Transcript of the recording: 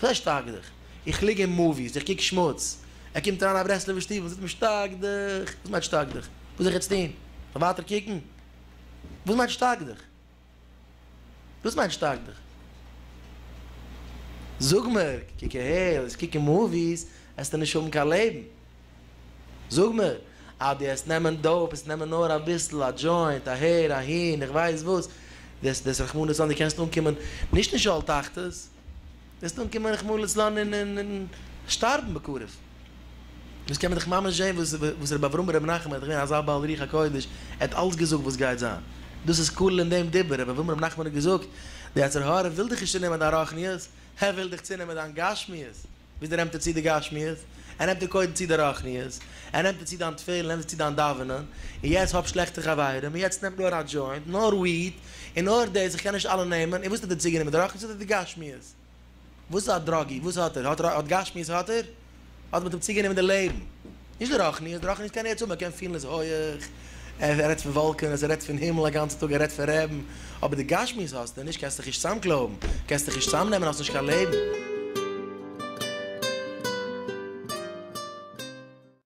זיי שטארק דיך, איך ליג אין מאוויס, איך קוק שמוץ, ער קומט אריין אין א ברסלב'ער שטוב און זאגט מיר שטארק דיך, וואס מיינט שטארק דיך? וואס זאל איך יעצט טון? זאל ווייטער קוקן? וואס מיינט שטארק דיך? וואס מיינט שטארק דיך? זאג מיר, קוק אהער, וועסט קוקן מאוויס, וועסטו נישט האבן קיין לעבן. זאג מיר, אז דו העסט נעמען דאופ, העסט נעמען נאר אביסל, א דזשוינט אהער אהין, איך ווייס וואס, וועסט וועסט רחמנא לצלן דו קענסט אנקומען נישט אין שאול תחתית, וועסט אנקומען רחמנא לצלן אין אין אין שטארבן בקרוב. דאס קען מען דאך ממש זען וואס וואס רבי אברהם רבי נחמן איז געווען אזא בעל רוח הקודש, ער האט אלץ געזאגט וואס גייט זיין. דאס איז כולל אין דעם דיבור, רבי אברהם רבי נחמן האט געזאגט, די יצר הרע וויל דיך נישט צונעמען דיין רוחניות, ער וויל דיך צונעמען דיין גשמיות. וויאזוי נעמט ער צו די גשמיות? ער נעמט דיר קודם צו די רוחניות, ער נעמט דיר צו דיין תפלה, ער נעמט דיר צו דיין דאווענען, און יעצט האב שלעכטע חברים, און יעצט נעם נאר א דזשוינט, נאר וויד, און נאר דאס, איך קען נישט אלע נעמען, און וואס האט ער דיר צוגענומען, די רוחניות אדער די גשמיות? וואס איז א דראגי? וואס האט ער? האט גשמיות האט ער? האט מען אים צוגענומען די לעבן? נישט די רוחניות, די רוחניות קען ער יעצט האבן, ער קען פילן עס הויעך, ער רעדט פון וואלקענעס, ער רעדט פון הימל א גאנצע טאג, ער רעדט פון רעבן, אבער די גשמיות האסטו נישט, קענסט דיך נישט צוזאמקלויבן, קענסט דיך נישט צוזאמנעמען, האסט נישט קיין לעבן.